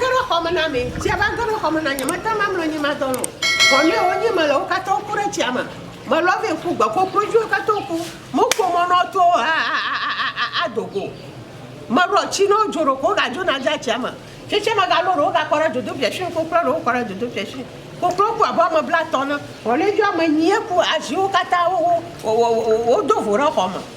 Ge ɖe xɔ me na mi. Tsi ava ge ɖe xɔ me na nye. Mete ŋu amlɔ anyi madɔ alɔ̃ o. Ʋɔnue wonyi mele, wo katã woku ɖe tsia me. Melɔ vɛ ƒu gbe kokloviwo katã woku. Mekpɔ mɔ ne woato ado go o. Melɔ tsi ne wodzo ɖeko wogadzo na dea tsia me. Tsetse megalɔ ɖewo gakɔ ɖe dzodoƒia si. Koklua ɖewo kɔ ɖe dzodoƒia si. Koklowo ku abe ame blatɔ̃ ene. Ʋɔnue dzi ame enyi ye ku. Aziwo katã wodo vo ɖe xɔ me.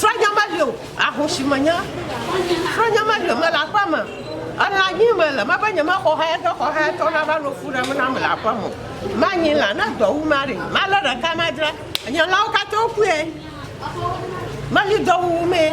Srɔ̃nya meli o, ahosi menye. Srɔ̃nya meli o, mele aƒe me. Elã nyim mele, mebe nyemexɔ hayetɔ xɔ hayetɔ nava nɔ fu ɖem nam le aƒe me o. Manyi lã, ne dɔ wum aɖee, malé ɖeka madzra. Nye lãwo katã wokue. Meli dɔ wuwumee.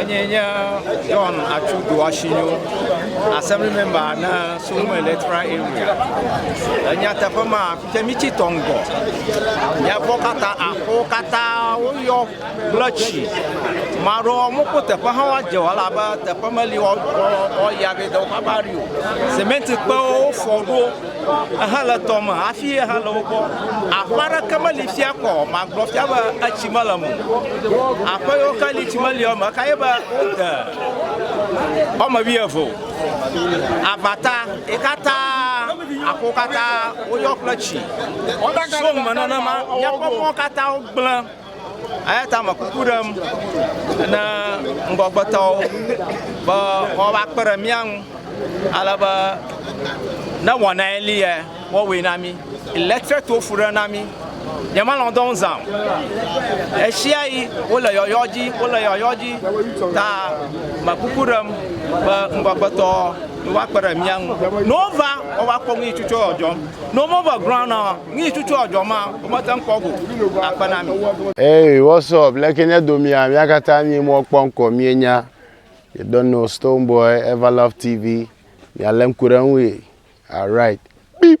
Enye nye John Atsu Doashinyo, assembly member na Solomon Electoral Area. Le nyateƒe ma, fi ke mítsi tɔ ŋgɔ, míakpɔ katã aƒewo katã woyɔ kple tsi. Maɖo mokpɔ teƒe hã woadze o elabe teƒe meli woyɔ be dɔwɔƒe aɖe o. Semɛnti kpewo wofɔ ɖo. Ehe le tɔ me hafi ehe le wo gbɔ. Aƒe aɖeke meli fia kɔ o. Magblɔ fia be etsi mele eme o. Aƒe yiwo ke li tsi meli eme o ekae nye be wode woame wuieve o. Abata ye katã aƒewo katã woyɔ kple tsi. So me nenema míaƒe mɔwo katã gblẽ. Eya ta me kuku ɖem ne ŋgɔgbetɔwo be woava kpe ɖe mía ŋu ale be ne wɔnae li ya woawɔe na mí. Electric to fu ɖe na mí. Nyemelɔ̃ dɔ ŋu zã o. Ɣesiaɣi wole yɔyɔ dzi wole yɔyɔ dzi ta me kuku ɖem be ŋgɔgbetɔ wova kpe ɖe mía ŋu. Ne wova wova kpɔ nu yi tsutso yɔ dzɔm. Ne womeva ground na o. Nui tsutsu a dzɔ ma wo me te ŋkɔ go a kpe na mi. Hey, what's up? Leke nye do mia? Mia katã mie mɔ kpɔ ŋkɔ mie nya. You don't know Stone Boy, Everlove TV. Mia le ŋku ɖe ŋu ye. Alright. Beep.